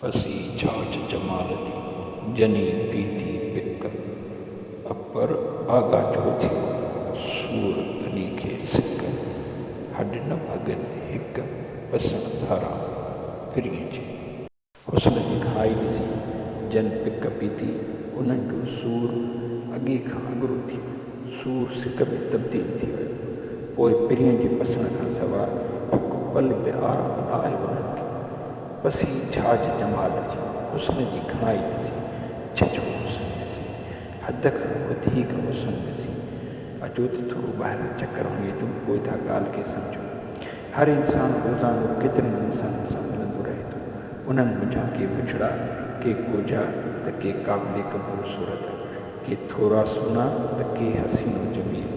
اسين ڇاڇ جمال جي ڄڃي پيتي پڪ اڪبر آغا جو ٿيو سور ڌني کي سڪ هڏ نه ڀڳن هڪ ٻسڻ ڌاران پھرين جي. حسن جي کائي ڏسي جن پڪ پيتي انهن جو سور اڳي کان اڳرو ٿيو. سور سڪ ۾ تبديل ٿي ويو. پوء پرينء جي پسڻ کان سواء ھڪ پل به آرام نه آيو انھن کي. پسي جھاج جمال جي حسن جي گھڻائي ڏسي، جھجھو حسن ڏسي، حد کان وڌيڪ حسن ڏسي، اچو ته ٿورو ٻاھران چڪر ھڻي اچون پوء اھا ڳالھه کي سمجھون. ھر انسان روزانو ڪيترن ئي انسانن سان ملندو رھي ٿو. انھن منجھان ڪي بڇڙا، ڪي ڳوجھا ته ڪي قابل قبول صورت. ڪي ٿورا سهڻا ته ڪي حسين و جميل،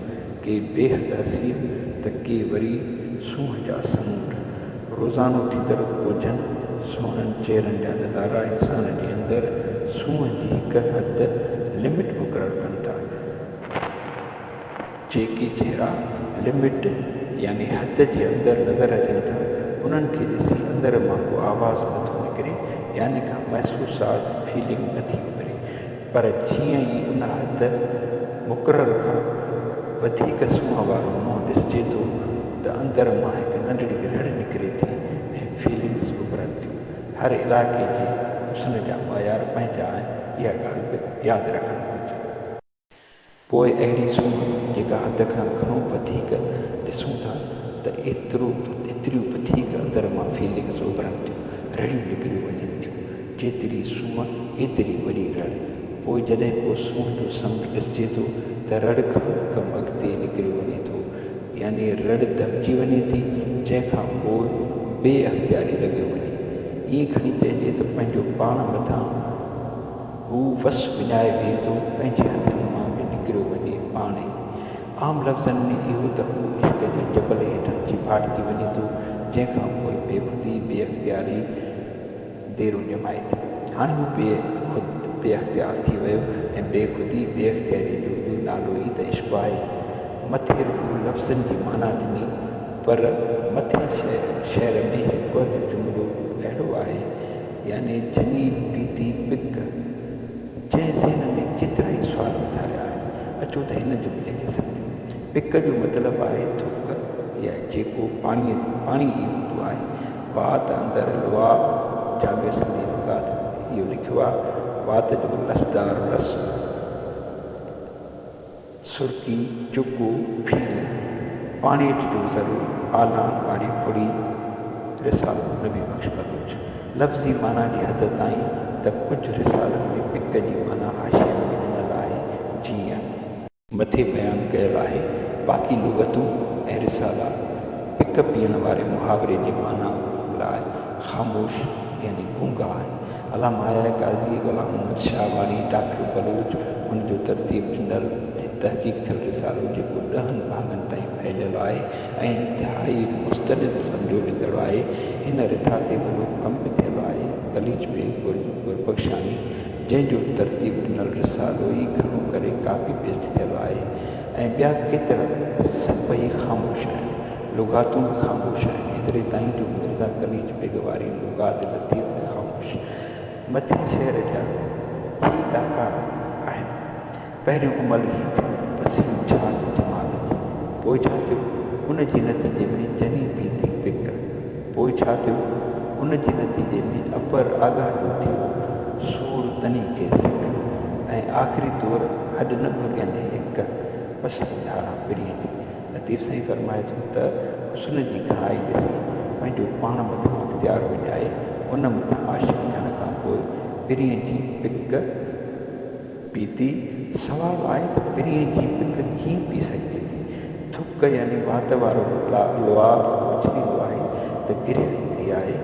ڪي بيحد حسين ته ڪي وري سونهن جا سمونڊ. روزانو ٿيندڙ ڳوجهن سهڻن چهرن جا نظارا انسان جي اندر سونهن جي هڪ حد، Limit، مقرر ڪن ٿا. جيڪي چهرا Limit يعني حد جي اندر نظر اچن ٿا، انهن کي ڏسي اندر مان ڪو آواز نٿو نڪري يعني ڪا محسوسات، Feeling، نٿي اڀري. پر جيئن ئي ان حد مقرر کان وڌيڪ سونهن وارو منهن ڏسجي ٿو ته اندر مان هڪ ننڍڙي رڙ نڪري ٿي ۽ فيلنگس اڀرن ٿيون. هر علائقي جي حسن جا معيار پنهنجا آهن اها ڳالهه به ياد رکڻ گهرجي. پوء اهڙي سونهن جيڪا حد کان گهڻو وڌيڪ ڏسون ٿا ته ايترو ايتريون وڌيڪ اندر مان فيلنگس اڀرنٽ، رڙيون نڪريون وڃن ٿيون، جيتري سونهن ايتري وڏي رڙ، پوء جڏهن ڪو سونهن جو سمنڊ ڏسجي ٿو ته رڙ کان به ڪم اڳتي نڪريو وڃي ٿو يعني رڙ دٻجي وڃي ٿي جنهن کان پوء بي اختياري لڳيو وڃي ائين کڻي چئجي ته پنهنجو پاڻ مٿان هو وس وڃائي ويهندو پنهنجي هٿن مان به نڪريو وڃي پاڻ ئي. عام لفظن ۾ اهو ته هو عشق جي جبل هيٺان اچي ڦاٽجي وڃي ٿو جنهن کان پوء بيخودي بي اختياري ديرون ڄمائي ٿي. هاڻي هو بي خود بي اختيار ٿي ويو ۽ بي خودي بي اختياري جو ٻيو نالو ئي ته عشق آهي. مٿي رڳو لفظن جي معنيٰ ڏني پر مٿين شعر ۾ هڪ اڌ جملو اهڙو آهي يعني جنين پيتي پت، جنهن ذهن ۾ ڪيترائي سوال اٿاريا آهن، اچو ته هن جملي کي سمجهون. پڪ جو مطلب آهي ٿڪ يا جيڪو پاڻيء ۾ پاڻي ئي هوندو آهي. وات اندر لعاب جامي سنڌي لغات ۾ اهو لکيو آهي، وات جو لسدار لس. سرڪي، چڪو، ڦيڻو، پاڻي اچ جو ذرو، آلان واري ڦڙي، رسالو نبي بخش بلوچ. لفظي معنيٰ جي حد تائين ته ڪجهه رسالن ۾ پڪ جي معنيٰ حاشيي ۾ ڏنل آهي، جيئن. مٿي بيان ڪيل آهي، باقي لغتون ۽ رسالا پڪ پيئڻ واري محاوري جي معنيٰ لاء خاموش يعني گونگا آهن. علامه آريا قاضي، غلام محمد شاهه واڻي، ڊاڪٽر بلوچ، هن جو ترتيب ڏنل ۽ تحقيق ٿيل رسالو جيڪو ڏهن ڀاڱن تائين ڦهليل آهي ۽ انتهائي مستند سمجهيو ويندڙ آهي. هن رٿا تي وڏو ڪم به ٿيل آهي. قليچ بيگ گربخشاڻي جنهن جو ترتيب ڏنل رسالو ئي گهڻو ڪري ڪاپي پيسٽ ٿيل آهي ۽ ٻيا ڪيترا سڀئي خاموش آهن. لغاتون خاموش آهن، ايتري تائين جو مرزا قليچ بيگ واري لغات لطيف به خاموش. مٿين شعر جا ٽي ڏاڪا آهن. پهريون عمل هي ٿيو ته پسينو ڇا ٿو دماغ جي، پوء ڇا ٿيو؟ ان جي نتيجي ۾ جني پي ٿي پڪ، پوء ڇا ٿيو؟ ان جي نتيجي ۾ اپر آڳاهه جو ٿيو سور تني کي سڪ ۽ آخري طور هڏ نه ڀڳين هڪ پسلي ڌاران پرينء جي. لطيف سائين فرمائي ٿو ته، حسن جي کاهي ڏسي، پنهنجو پاڻ مٿان اختيار وڃائي، ان مٿان عاشق ٿيڻ کان پوء پرينء جي پڪ پيتي، سوال آهي ته پرينء جي پڪ ڪيئن پي سگهجي ٿي؟ ٿڪ يعني وات وارو لولا اڇليندو آهي ته گرهه ايندي آهي،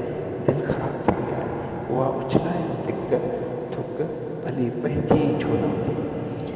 دل خراب ٿيندي آهي، اها اڇلائيندي پڪ، ٿڪ، ڀلي پنهنجي ئي ڇو نه هجي.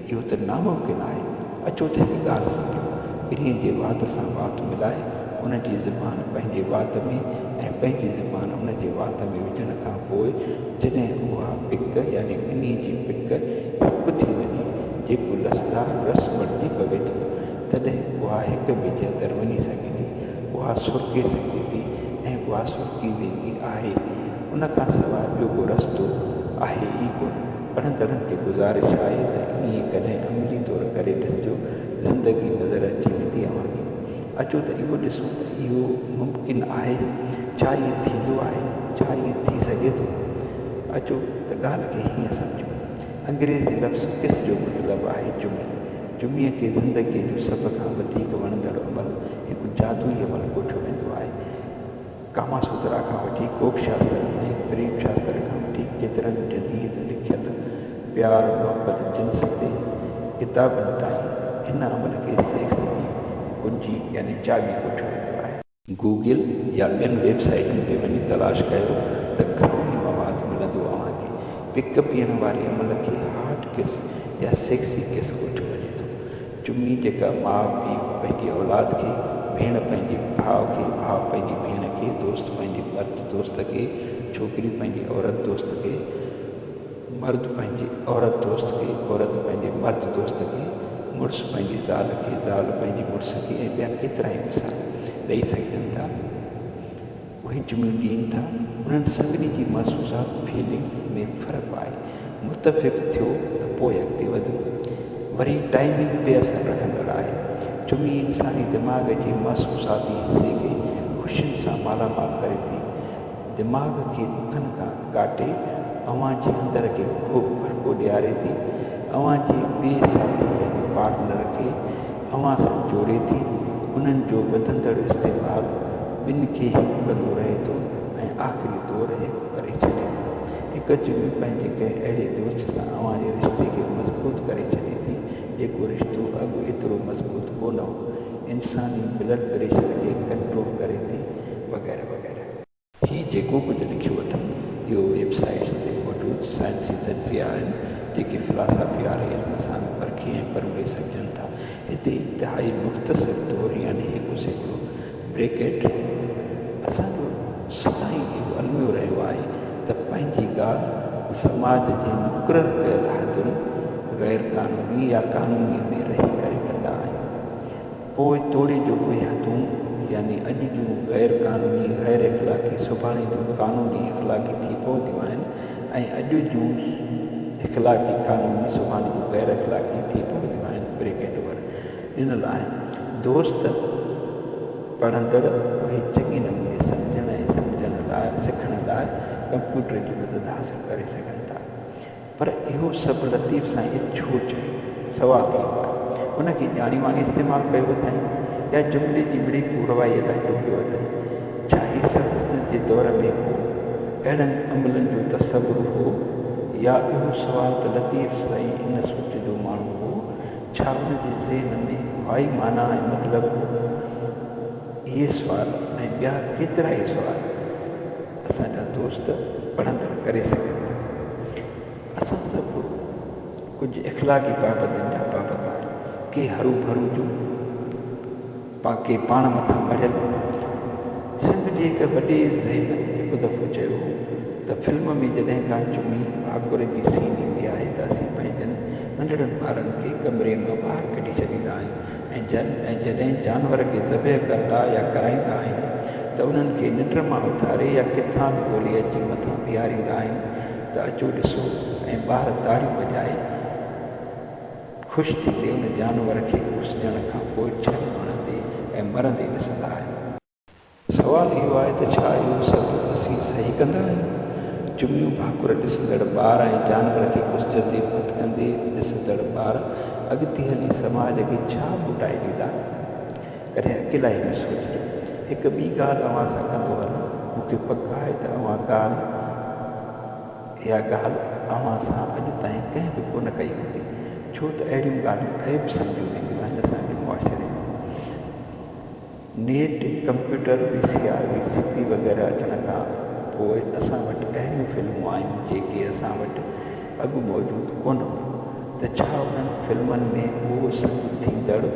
اهو ته ناممڪن آهي. اچو ته هڪ ڳالهه سمجهون. ٻنهي جي وات سان وات ملائي، ان جي زبان پنهنجي وات ۾ ۽ پنهنجي زبان ان جي وات ۾ وجهڻ کان پوء جڏهن اها پڪ يعني ٻنهي جي پڪ هڪ ٿي وڃي، جيڪو لسدار رس بڻجي پوي ٿو، تڏهن اها هڪ ٻئي جي اندر وڃي سگهي ٿي، اها سرڪي سگهجي ٿي ۽ اها سرڪي ويندي آهي. ان کان سواء ٻيو ڪو رستو آهي ئي ڪونه. پڙهندڙن کي گذارش آهي ته انهيء ڪڏهن عملي طور ڪري ڏسجو، زندگي نظر اچي ويندي اوهان کي. اچو ته اهو ڏسون ته اهو ممڪن آهي؟ ڇا ائين ٿيندو آهي؟ ڇا ائين ٿي سگهي ٿو؟ اچو ته ڳالهه کي هيئن سمجهون. انگريزي لفظ Kiss جو مطلب آهي چمي. چميء کي زندگيء جو سڀ کان وڌيڪ وڻندڙ عمل، هڪ جادوئي عمل ڪوٺيو ويندو آهي. ڪاما سوترا کان وٺي ڪوڪ شاستر ۽ پريم شاستر کان وٺي ڪيترن جديد لکيل پيار محبت جنس تي ڪتابن تائين هن عمل کي سيڪس جي ڪنجي يعني چاٻي ڪوٺيو ويندو آهي. گوگل يا ٻين ويب سائيٽن تي وڃي تلاش ڪيو ته گهڻو ئي مواد ملندو اوهان کي پڪ پيئڻ واري عمل کي هاٽ ڪس يا سيڪسي ڪس ڪوٺيو وڃي ٿو چمي جيڪا ماء پيء پنهنجي اولاد کي، ڀيڻ پنهنجي ڀاء کي، ڀاء پنهنجي ڀيڻ کي، دوست پنهنجي مرد دوست کي، ڇوڪري پنهنجي عورت دوست کي، مرد پنهنجي عورت دوست کي، عورت پنهنجي مرد دوست کي، مڙس پنهنجي زال کي، زال پنهنجي مڙس کي ۽ ٻيا ڪيترائي مثال ڏئي سگهجن ٿا. اهي جمليون ڏين ٿا انهن سڀني جي محسوسات، Feelings، ۾ فرق آهي متفق ٿيو ته پوء اڳتي وڌو. وري ٽائمنگ بي اثر رکندڙ آهي جمعي انساني دماغ جي محسوساتي حصي کي خوشين سان مالا مال ڪري ٿي دماغ کي ڏکن کان، ڪاٽي اوهان جي اندر کي خوب ڀڙڪو ڏياري ٿي، اوهان جي ٻئي ساٿي يعني پارٽنر کي اوهان سان جوڙي ٿي، انهن جو وڌندڙ استعمال ٻن کي هڪ ڪندو رهي ٿو ۽ آخري دور هڪ ڪري ڇڏي ٿو. هڪ چني پنهنجي ڪنهن اهڙي دوست سان اوهان جي رشتي کي مضبوط ڪري ڇڏي ٿي، جيڪو رشتو اڳ ايترو مضبوط ڪونه هو، انساني بلڊ پريشر کي ڪنٽرول ڪري ٿي وغيره وغيره. هي جيڪو ڪجهه لکيو اٿم، اهو ويب سائيٽس تي موجود سائنسي تجزيا آهن، جيڪي فلاسافي واري علم سان به پرکي ۽ پروڙي سگهجن ٿا. هتي انتهائي مختصر طور يعني هڪ سيڪڙو، Bracket، اسان جو سدائين اهو الميو رهيو آهي ته پنهنجي ڳالهه سماج جي مقرر ڪيل حدن، غير قانوني يا قانوني، ۾ رهي ڪري ڪندا آهيون. پوء توڙي جو اهي تون يعني اڄ جون غير قانوني، غير اخلاقي سڀاڻي جون قانوني، اخلاقي ٿي پونديون آهن ۽ اڄ جون اخلاقي، قانوني سڀاڻي جون غير اخلاقي ٿي پونديون آهن Bracket ور ڏنل آهن دوست پڙهندڙ اهي چڱي نموني سمجهڻ ۽ سمجهڻ لاء سکڻ لاء ڪمپيوٽر جي مدد حاصل ڪري سگهن ٿا. پر اهو سڀ لطيف سائين جي ڇو چيو سوال هي هو ته ان کي ڄاڻي واڻي استعمال ڪيو اٿائين يا جملي جي مڙئي پورروائيء لاء جوڙيو اٿائين؟ ڇا هي سڀ هن جي دور ۾ ڪو اهڙن عملن جو تصور هو يا اهو سوال ته لطيف سائين ان سوچ جو ماڻهو هو ڇا ان جي ذهن ۾ اهائي معنيٰ ۽ مطلب هو؟ اهي سوال ۽ ٻيا ڪيترائي سوال. اسان جا دوست پڙهندڙ ڪري سگهن ٿا. اسان سڀ ڪجهه اخلاقي پابندين جا پابند آهيون. ڪي هروڀرو جون ته ڪي پاڻ مٿان مڙهيل هوندا آهن. سنڌ جي هڪ وڏي ذهين هڪ دفعو چيو هو ته فلم ۾ جڏهن ڪا چمي ڀاڪر جي سين ايندي آهي ته اسين پنهنجن ننڍڙن ٻارن کي ڪمري مان ٻاهر ڪڍي ڇڏيندا آهيون ۽ جن ۽ جڏهن جانور کي ذبح ڪندا يا ڪرائيندا آهن ته انهن کي ننڊ مان اٿاري يا ڪٿان به ڳولي اچي مٿان بيهاريندا آهن ته اچو ڏسو ۽ ٻار تاڙيون وڄائي خوش ٿيندي ان جانور کي کوسجڻ کان پوء ڇهن ماڻهن تي ۽ مرندي ڏسندا آهن. سوال اهو آهي ته ڇا اهو سڀ اسين صحيح ڪندا آهيون؟ جمعيون ڀاڪر ڏسندڙ ٻار ۽ جانور کي ڪسجن تي ڀت ڪندي ڏسندڙ ٻار اڳتي هلي سماج کي ڇا موٽائي ڏيندا؟ ڪڏهن اڪيلائي ۾ سوچجو. هڪ ٻي ڳالهه اوهان سان ڪندو هلان. مون کي پڪ آهي ته اها ڳالهه اها ڳالهه اوهان سان اڄ تائين ڪنهن به ڪونه ڪئي هوندي ڇو ته اهڙيون ڳالهيون عيب سمجهيون وينديون آهن اسان جي معاشري ۾. Net, computer, V C R, V C P وغيره اچڻ کان پوء اسان وٽ اهڙيون فلمون آيون جيڪي اسان وٽ اڳ موجود ڪونه هيون ته ڇا انهن فلمن ۾ اهو سڀ ٿيندڙ ۽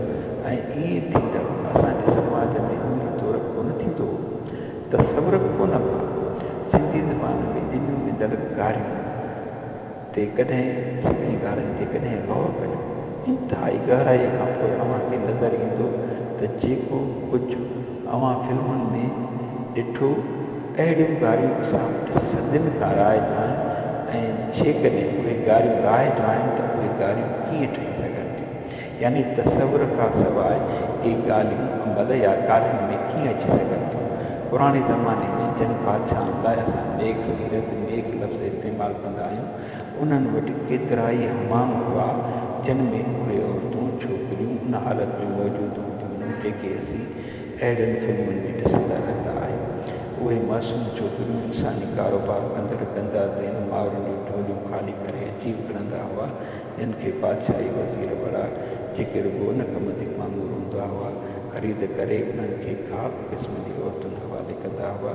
ائين ٿيندڙ اسان جي سماج ۾ عملي طور ڪونه ٿيندو هو؟ تصور به ڪونه ڪئون. سنڌي زبان ۾ ڄڃون ويندڙ ڪاريون. تي ڪڏهن سنڌي گانن تي ڪڏهن غور ڪيو انتهائي گهرائي کان پوء اوهان کي نظر ايندو ته جيڪو ڪجهه اوهان فلمن ۾ ڏٺو اهڙيون گاريون اسان وٽ صدين کان رائج آهن ۽ جيڪڏهن اهي گاريون رائج آهن ته اهي گاريون ڪيئن ٺهي سگهن ٿيون يعني تصور کان سواء اهي ڳالهيون عمل يا ڪارين ۾ ڪيئن اچي سگهن ٿيون؟ پراڻي زماني ۾ جن بادشاهن لاء اسان نيڪ سيرت، نيڪ لفظ استعمال ڪندا آهيون، انهن وٽ ڪيترائي حمام هئا، جن ۾ اهي عورتون، ڇوڪريون، ان حالت ۾ موجود هونديون هيون، جيڪي اسين اهڙين فلمن ۾ ڏسندا رهندا آهيون. اهي معصوم ڇوڪريون انساني ڪاروبار ڪندڙ گندا ذهن مائرن جون جهوليون خالي ڪري عجيب گرندا هئا، جن کي بادشاهي وزير وڙا، جيڪي رڳو ان ڪم تي مامور هوندا هئا، خريد ڪري انهن کي خاص قسم جي عورتن حوالي ڪندا هئا،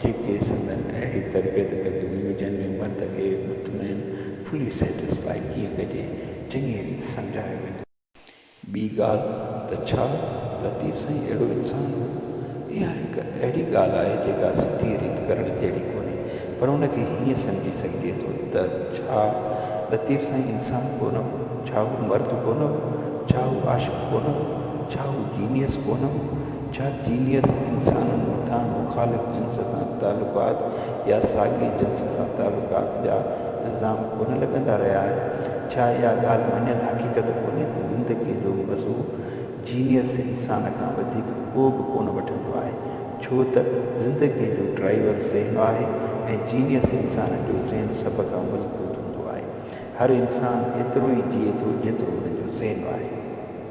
جيڪي سندن اهڙي تربيت ڪنديون هيون، جنهن ۾ مرد کي مطمئن، Fully Satisfy، ڪيئن ڪجي، چڱيء ريت سمجهايو وڃي. ٻي ڳالهه ته ڇا لطيف سائين اهڙو انسان هو؟ اها هڪ اهڙي ڳالهه آهي جيڪا سڌيء ريت ڪرڻ جهڙي ڪونهي پر ان کي هيئن سمجهي سگهجي ٿو ته ڇا لطيف سائين انسان ڪونه هو؟ ڇا هو مرد ڪونه هو؟ ڇا هو عاشق ڪونه هو؟ ڇا هو جينيئس ڪونه هو؟ ڇا جينيس انسانن مٿان مخالف جنس سان تعلقات يا ساڳئي جنس سان تعلقات جا الزام ڪونه لڳندا رهيا آهن؟ ڇا اها ڳالهه مڃيل حقيقت ڪونهي ته زندگيء جو مزو جينيس انسان کان وڌيڪ ڪو به ڪونه وٺندو آهي، ڇو ته زندگيء جو ڊرائيور ذهن آهي ۽ جينيس انسان جو ذهن سڀ کان مضبوط هوندو آهي. هر انسان ايترو ئي جيئي ٿو جيترو هن جو ذهن آهي.